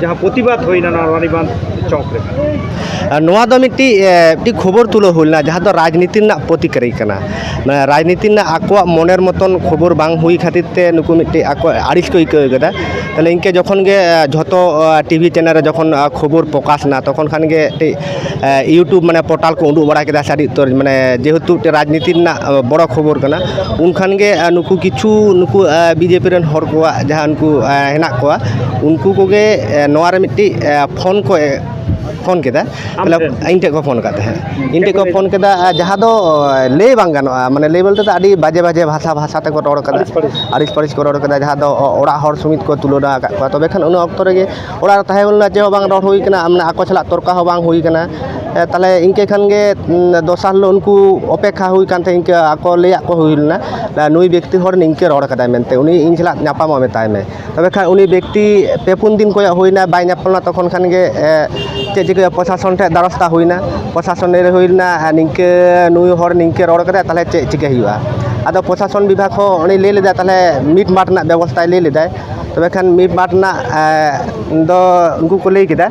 ᱡᱟᱦᱟᱸ ᱯᱨᱚᱛᱤᱵᱟᱫ ᱦᱩᱭᱱᱟ ᱱᱚᱣᱟ ᱨᱟᱱᱤᱵᱟᱸᱫ ᱪᱚᱠ ᱨᱮ ᱱᱚᱣᱟ ᱫᱚ ᱢᱤᱫᱴᱤᱡ ᱢᱤᱫᱴᱤᱡ ᱠᱷᱚᱵᱚᱨ ᱛᱩᱞᱟᱹᱣ ᱦᱩᱭ ᱞᱮᱱᱟ ᱡᱟᱦᱟᱸ ᱫᱚ ᱨᱟᱡᱽᱱᱤᱛᱤ ᱨᱮᱱᱟᱜ ᱯᱨᱚᱛᱤᱠᱟᱨᱤ ᱠᱟᱱᱟ ᱨᱟᱡᱽᱱᱤᱛᱤ ᱨᱮᱱᱟᱜ ᱟᱠᱚᱣᱟᱜ ᱢᱚᱱᱮᱨ ᱢᱚᱛᱚᱱ ᱠᱷᱚᱵᱚᱨ ᱵᱟᱝ ᱦᱩᱭ ᱠᱷᱟᱹᱛᱤᱨ ᱛᱮ ᱱᱩᱠᱩ ᱢᱤᱫᱴᱤᱡ ᱟᱠᱚᱣᱟᱜ ᱟᱹᱲᱤᱥ ᱠᱚ ᱟᱹᱭᱠᱟᱹᱣ ᱠᱟᱫᱟ ᱛᱟᱦᱚᱞᱮ ᱤᱱᱠᱟᱹ ᱡᱚᱠᱷᱚᱱ ᱜᱮ ᱡᱷᱚᱛᱚ ᱴᱤᱵᱷᱤ ᱪᱮᱱᱮᱞ ᱨᱮ ᱡᱚᱠᱷᱚᱱ ᱠᱷᱚᱵᱚᱨ ᱯᱨᱚᱠᱟᱥ ᱮᱱᱟ ᱛᱚᱠᱷᱚᱱ ᱠᱷᱟᱱ ᱜᱮ ᱢᱤᱫᱴᱤᱡ ᱤᱭᱩᱴᱩᱵᱽ ᱢᱟᱱᱮ ᱯᱳᱨᱴᱟᱞ ᱠᱚ ᱩᱰᱩᱠ ᱵᱟᱲᱟ ᱠᱮᱫᱟ ᱥᱮ ᱟᱹᱰᱤ ᱩᱛᱟᱹᱨ ᱢᱟᱱᱮ ᱡᱮᱦᱮᱛᱩ ᱢᱤᱫᱴᱮᱱ ᱨᱟᱡᱽᱱᱤᱛᱤ ᱨᱮᱱᱟᱜ ᱵᱚᱲᱚ ᱠᱷᱚᱵᱚᱨ ᱠᱟᱱᱟ ᱩᱱᱠᱷᱟᱱ ᱜᱮ ᱱᱩᱠᱩ ᱠᱤᱪᱷᱩ ᱱᱩᱠᱩ ᱵᱤ ᱡᱮ ᱯᱤ ᱨᱮᱱ ᱦᱚᱲ ᱠᱚᱣᱟᱜ ᱡᱟᱦᱟᱸ ᱩᱱᱠᱩ ᱦᱮᱱᱟᱜ ᱠᱚᱣᱟ ᱩᱱᱠᱩ ᱠᱚᱜᱮ ᱱᱚᱣᱟ ᱨᱮ ᱢᱤᱫᱴᱤᱡ ᱯᱷᱳᱱ ᱠᱚ ᱯᱷᱳᱱ ᱠᱮᱫᱟ ᱤᱧ ᱴᱷᱮᱱ ᱠᱚ ᱯᱷᱳᱱ ᱠᱟᱜ ᱛᱟᱦᱮᱸᱫ ᱤᱧ ᱴᱷᱮᱱ ᱠᱚ ᱯᱷᱳᱱ ᱠᱮᱫᱟ ᱡᱟᱦᱟᱸ ᱫᱚ ᱞᱟᱹᱭ ᱵᱟᱝ ᱜᱟᱱᱚᱜᱼᱟ ᱢᱟᱱᱮ ᱞᱟᱹᱭ ᱵᱚᱞᱛᱮ ᱫᱚ ᱟᱹᱰᱤ ᱵᱟᱡᱮ ᱵᱟᱡᱮ ᱵᱷᱟᱥᱟ ᱵᱷᱟᱥᱟ ᱛᱮᱠᱚ ᱨᱚᱲ ᱠᱟᱫᱟ ᱟᱹᱲᱤᱥ ᱯᱟᱹᱲᱤᱥ ᱠᱚ ᱨᱚᱲ ᱠᱟᱫᱟ ᱡᱟᱦᱟᱸ ᱫᱚ ᱚᱲᱟᱜ ᱦᱚᱲ ᱥᱚᱢᱮᱛ ᱠᱚ ᱛᱩᱞᱟᱹᱱᱟ ᱟᱠᱟᱫ ᱠᱚᱣᱟ ᱛᱚᱵᱮ ᱠᱷᱟᱱ ᱩᱱ ᱚᱠᱛᱚ ᱨᱮᱜᱮ ᱚᱲᱟᱜ ᱨᱮ ᱛᱟᱦᱮᱸ ᱦᱩᱭ ᱞᱮᱱᱟ ᱪᱮᱫ ᱦᱚᱸ ᱵᱟᱝ ᱨᱚᱲ ᱦᱩᱭ ᱠᱟᱱᱟ ᱢᱟᱱᱮ ᱟᱠᱚ ᱥᱟᱞᱟᱜ ᱛᱚᱨᱠᱟ ᱦᱚᱸ ᱵᱟᱝ ᱦᱩᱭ ᱠᱟᱱᱟ ᱛᱟᱦᱚᱞᱮ ᱤᱱᱠᱟᱹ ᱠᱷᱟᱱ ᱜᱮ ᱫᱚᱥᱟᱨ ᱦᱤᱞᱳᱜ ᱩᱱᱠᱩ ᱚᱯᱮᱠᱠᱷᱟ ᱦᱩᱭ ᱠᱟᱱ ᱛᱟᱦᱮᱸᱫ ᱤᱱᱠᱟᱹ ᱟᱠᱚ ᱞᱟᱹᱭᱟᱜ ᱠᱚ ᱦᱩᱭ ᱞᱮᱱᱟ ᱱᱩᱭ ᱵᱮᱠᱛᱤ ᱦᱚᱲ ᱱᱤᱝᱠᱟᱹ ᱨᱚᱲ ᱠᱟᱫᱟᱭ ᱢᱮᱱᱛᱮ ᱩᱱᱤ ᱤᱧ ᱥᱟᱞᱟᱜ ᱧᱟᱯᱟᱢᱚᱜ ᱢᱮᱛᱟᱭ ᱢᱮ ᱛᱚᱵᱮ ᱠᱷᱟᱱ ᱩᱱᱤ ᱵᱮᱠᱛᱤ ᱯᱮ ᱯᱩᱱ ᱫᱤᱱ ᱠᱚᱭᱚᱜ ᱦᱩᱭᱱᱟ ᱵᱟᱭ ᱧᱟᱯᱟᱢ ᱞᱮᱱᱟ ᱛᱚᱠᱷᱚᱱ ᱠᱷᱟᱱ ᱜᱮ ᱪᱮᱫ ᱪᱤᱠᱟᱹ ᱯᱨᱚᱥᱟᱥᱚᱱ ᱴᱷᱮᱱ ᱫᱟᱨᱟᱥ ᱦᱟᱛᱟᱣ ᱦᱩᱭᱱᱟ ᱯᱨᱚᱥᱟᱥᱚᱱ ᱞᱟᱹᱭ ᱦᱩᱭ ᱞᱮᱱᱟ ᱱᱤᱝᱠᱟᱹ ᱱᱩᱭ ᱦᱚᱲ ᱱᱤᱝᱠᱟᱹ ᱨᱚᱲ ᱠᱟᱫᱟᱭ ᱛᱟᱦᱚᱞᱮ ᱪᱮᱫ ᱪᱤᱠᱟᱹᱭ ᱦᱩᱭᱩᱜᱼᱟ ᱟᱫᱚ ᱯᱨᱚᱥᱟᱥᱚᱱ ᱵᱤᱵᱷᱟᱜᱽ ᱦᱚᱸ ᱩᱱᱤ ᱞᱟᱹᱭ ᱞᱮᱫᱟᱭ ᱛᱟᱦᱚᱞᱮ ᱢᱤᱴᱢᱟᱴ ᱨᱮᱱᱟᱜ ᱵᱮᱵᱚᱥᱛᱷᱟᱭ ᱞᱟᱹᱭ ᱞᱮᱫᱟᱭ ᱛᱚᱵᱮ ᱠᱷᱟᱱ ᱢᱤᱫ ᱵᱟᱨ ᱨᱮᱱᱟᱜ ᱫᱚ ᱩᱱᱠᱩ ᱠᱚ ᱞᱟᱹᱭ ᱠᱮᱫᱟ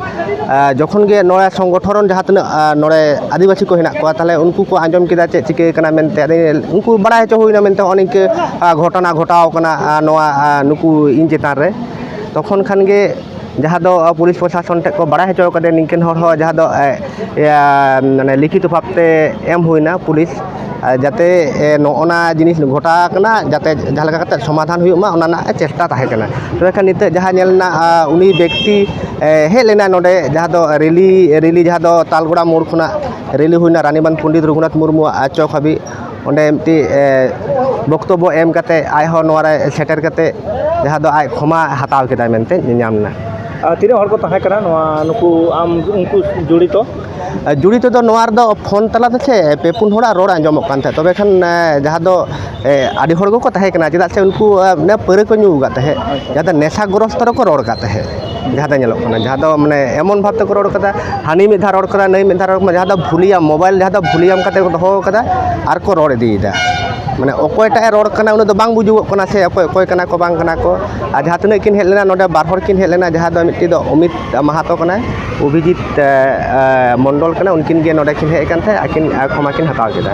ᱡᱚᱠᱷᱚᱱ ᱜᱮ ᱱᱚᱣᱟ ᱥᱚᱝᱜᱚᱴᱷᱚᱱ ᱡᱟᱦᱟᱸ ᱛᱤᱱᱟᱹᱜ ᱱᱚᱰᱮ ᱟᱹᱫᱤᱵᱟᱹᱥᱤ ᱠᱚ ᱦᱮᱱᱟᱜ ᱠᱚᱣᱟ ᱛᱟᱦᱚᱞᱮ ᱩᱱᱠᱩ ᱠᱚ ᱟᱸᱡᱚᱢ ᱠᱮᱫᱟ ᱪᱮᱫ ᱪᱤᱠᱟᱹ ᱠᱟᱱᱟ ᱢᱮᱱᱛᱮ ᱟᱫᱚ ᱩᱱᱠᱩ ᱵᱟᱲᱟᱭ ᱦᱚᱪᱚ ᱦᱩᱭᱱᱟ ᱢᱮᱱᱛᱮ ᱱᱚᱜᱼᱚ ᱱᱤᱝᱠᱟᱹ ᱜᱷᱚᱴᱚᱱᱟ ᱜᱷᱚᱴᱟᱣ ᱠᱟᱱᱟ ᱱᱚᱣᱟ ᱱᱩᱠᱩ ᱤᱧ ᱪᱮᱛᱟᱱ ᱨᱮ ᱛᱚᱠᱷᱚᱱ ᱠᱷᱟᱱ ᱜᱮ ᱡᱟᱦᱟᱸ ᱫᱚ ᱯᱩᱞᱤᱥ ᱯᱨᱚᱥᱟᱥᱚᱱ ᱴᱷᱮᱱ ᱠᱚ ᱵᱟᱲᱟᱭ ᱦᱚᱪᱚ ᱟᱠᱟᱫᱮᱭᱟ ᱱᱤᱝᱠᱟᱹᱱ ᱦᱚᱲ ᱦᱚᱸ ᱡᱟᱦᱟᱸ ᱫᱚ ᱢᱟᱱᱮ ᱞᱤᱠᱷᱤᱛ ᱵᱷᱟᱵᱽ ᱛᱮ ᱮᱢ ᱦᱩᱭᱱᱟ ᱯᱩᱞᱤᱥ ᱟᱨ ᱡᱟᱛᱮ ᱱᱚᱜᱼᱱᱟ ᱡᱤᱱᱤᱥ ᱜᱷᱚᱴᱟᱣ ᱟᱠᱟᱱᱟ ᱡᱟᱛᱮ ᱡᱟᱦᱟᱸ ᱞᱮᱠᱟ ᱠᱟᱛᱮᱫ ᱥᱚᱢᱟᱫᱷᱟᱱ ᱦᱩᱭᱩᱜ ᱢᱟ ᱚᱱᱟ ᱨᱮᱱᱟᱜ ᱪᱮᱥᱴᱟ ᱛᱟᱦᱮᱸ ᱠᱟᱱᱟ ᱛᱚᱵᱮ ᱠᱷᱟᱱ ᱱᱤᱛᱚᱜ ᱡᱟᱦᱟᱸ ᱧᱮᱞ ᱮᱱᱟ ᱩᱱᱤ ᱵᱮᱠᱛᱤ ᱦᱮᱡ ᱞᱮᱱᱟᱭ ᱱᱚᱰᱮ ᱡᱟᱦᱟᱸ ᱫᱚ ᱨᱮᱞᱤ ᱨᱮᱞᱤ ᱡᱟᱦᱟᱸ ᱫᱚ ᱛᱟᱞᱵᱮᱲᱟ ᱢᱳᱲ ᱠᱷᱚᱱᱟᱜ ᱨᱮᱞᱤ ᱦᱩᱭᱱᱟ ᱨᱟᱱᱤᱵᱟᱸᱫᱷ ᱯᱚᱱᱰᱤᱛ ᱨᱚᱜᱷᱩᱱᱟᱛᱷ ᱢᱩᱨᱢᱩᱣᱟᱜ ᱪᱚᱠ ᱦᱟᱹᱵᱤᱡ ᱚᱸᱰᱮ ᱢᱤᱫᱴᱤᱡ ᱵᱚᱠᱛᱚᱵᱵᱚ ᱮᱢ ᱠᱟᱛᱮᱫ ᱟᱡ ᱦᱚᱸ ᱱᱚᱣᱟ ᱨᱮ ᱥᱮᱴᱮᱨ ᱠᱟᱛᱮᱫ ᱡᱟᱦᱟᱸ ᱫᱚ ᱟᱡ ᱠᱷᱚᱢᱟ ᱦᱟᱛᱟᱣ ᱠᱮᱫᱟᱭ ᱢᱮᱱᱛᱮ ᱧᱮᱧᱟᱢ ᱮᱱᱟ ᱟᱨ ᱛᱤᱱᱟᱹᱜ ᱦᱚᱲ ᱠᱚ ᱛᱟᱦᱮᱸ ᱠᱟᱱᱟ ᱱᱚᱣᱟ ᱱᱩᱠᱩ ᱟᱢ ᱩᱱᱠᱩ ᱡᱚᱲᱤᱛᱚ ᱡᱩᱲᱤᱛᱚ ᱫᱚ ᱱᱚᱣᱟ ᱨᱮᱫᱚ ᱯᱷᱳᱱ ᱛᱟᱞᱟ ᱛᱮᱥᱮ ᱯᱮ ᱯᱩᱱ ᱦᱚᱲᱟᱜ ᱨᱚᱲ ᱟᱸᱡᱚᱢᱚᱜ ᱠᱟᱱ ᱛᱟᱦᱮᱸᱫ ᱛᱚᱵᱮ ᱠᱷᱟᱱ ᱡᱟᱦᱟᱸ ᱫᱚ ᱟᱹᱰᱤ ᱦᱚᱲ ᱜᱮᱠᱚ ᱛᱟᱦᱮᱸ ᱠᱟᱱᱟ ᱪᱮᱫᱟᱜ ᱥᱮ ᱩᱱᱠᱩ ᱯᱟᱹᱣᱨᱟᱹ ᱠᱚ ᱧᱩ ᱟᱠᱟᱫ ᱛᱟᱦᱮᱸᱫ ᱡᱟᱦᱟᱸ ᱫᱚ ᱱᱮᱥᱟ ᱜᱨᱚᱥᱛᱚ ᱨᱮᱠᱚ ᱨᱚᱲ ᱟᱠᱟᱫ ᱛᱟᱦᱮᱸᱫ ᱡᱟᱦᱟᱸ ᱫᱚ ᱧᱮᱞᱚᱜ ᱠᱟᱱᱟ ᱡᱟᱦᱟᱸ ᱫᱚ ᱢᱟᱱᱮ ᱮᱢᱚᱱ ᱵᱷᱟᱵᱽ ᱛᱮᱠᱚ ᱨᱚᱲ ᱠᱟᱫᱟ ᱦᱟᱹᱱᱤ ᱢᱤᱫ ᱫᱷᱟᱣ ᱨᱚᱲ ᱠᱟᱫᱟ ᱱᱟᱹᱭ ᱢᱤᱫ ᱫᱷᱟᱣ ᱨᱚᱲ ᱠᱟᱫᱟ ᱡᱟᱦᱟᱸ ᱫᱚ ᱵᱷᱩᱞᱤᱭᱟᱢ ᱢᱳᱵᱟᱭᱤᱞ ᱡᱟᱦᱟᱸ ᱫᱚ ᱵᱷᱩᱞᱤᱭᱟᱢ ᱠᱟᱛᱮ ᱠᱚ ᱫᱚᱦᱚ ᱠᱟᱫᱟ ᱟᱨ ᱠᱚ ᱨᱚᱲ ᱤᱫᱤᱭᱮᱫᱟ ᱢᱟᱱᱮ ᱚᱠᱚᱭᱴᱟᱜ ᱮ ᱨᱚᱲ ᱠᱟᱱᱟ ᱩᱱᱤ ᱫᱚ ᱵᱟᱝ ᱵᱩᱡᱩᱜᱚᱜ ᱠᱟᱱᱟ ᱥᱮ ᱚᱠᱚᱭ ᱚᱠᱚᱭ ᱠᱟᱱᱟ ᱠᱚ ᱵᱟᱝ ᱠᱟᱱᱟ ᱠᱚ ᱟᱨ ᱡᱟᱦᱟᱸ ᱛᱤᱱᱟᱹᱜ ᱠᱤᱱ ᱦᱮᱡ ᱞᱮᱱᱟ ᱱᱚᱰᱮ ᱵᱟᱨ ᱦᱚᱲ ᱠᱤᱱ ᱦᱮᱡ ᱞᱮᱱᱟ ᱡᱟᱦᱟᱸ ᱫᱚ ᱢᱤᱫᱴᱤᱡ ᱫᱚ ᱚᱢᱤᱛ ᱢᱟᱦᱟᱛᱚ ᱠᱟᱱᱟᱭ ᱚᱵᱷᱤᱡᱤᱛ ᱢᱚᱱᱰᱚᱞ ᱠᱟᱱᱟᱭ ᱩᱱᱠᱤᱱ ᱜᱮ ᱱᱚᱰᱮ ᱠᱤᱱ ᱦᱮᱡ ᱟᱠᱟᱱ ᱛᱟᱦᱮᱸᱫ ᱟᱹᱠᱤᱱ ᱠᱷᱚᱢᱟ ᱠᱤᱱ ᱦᱟᱛᱟᱣ ᱠᱮᱫᱟ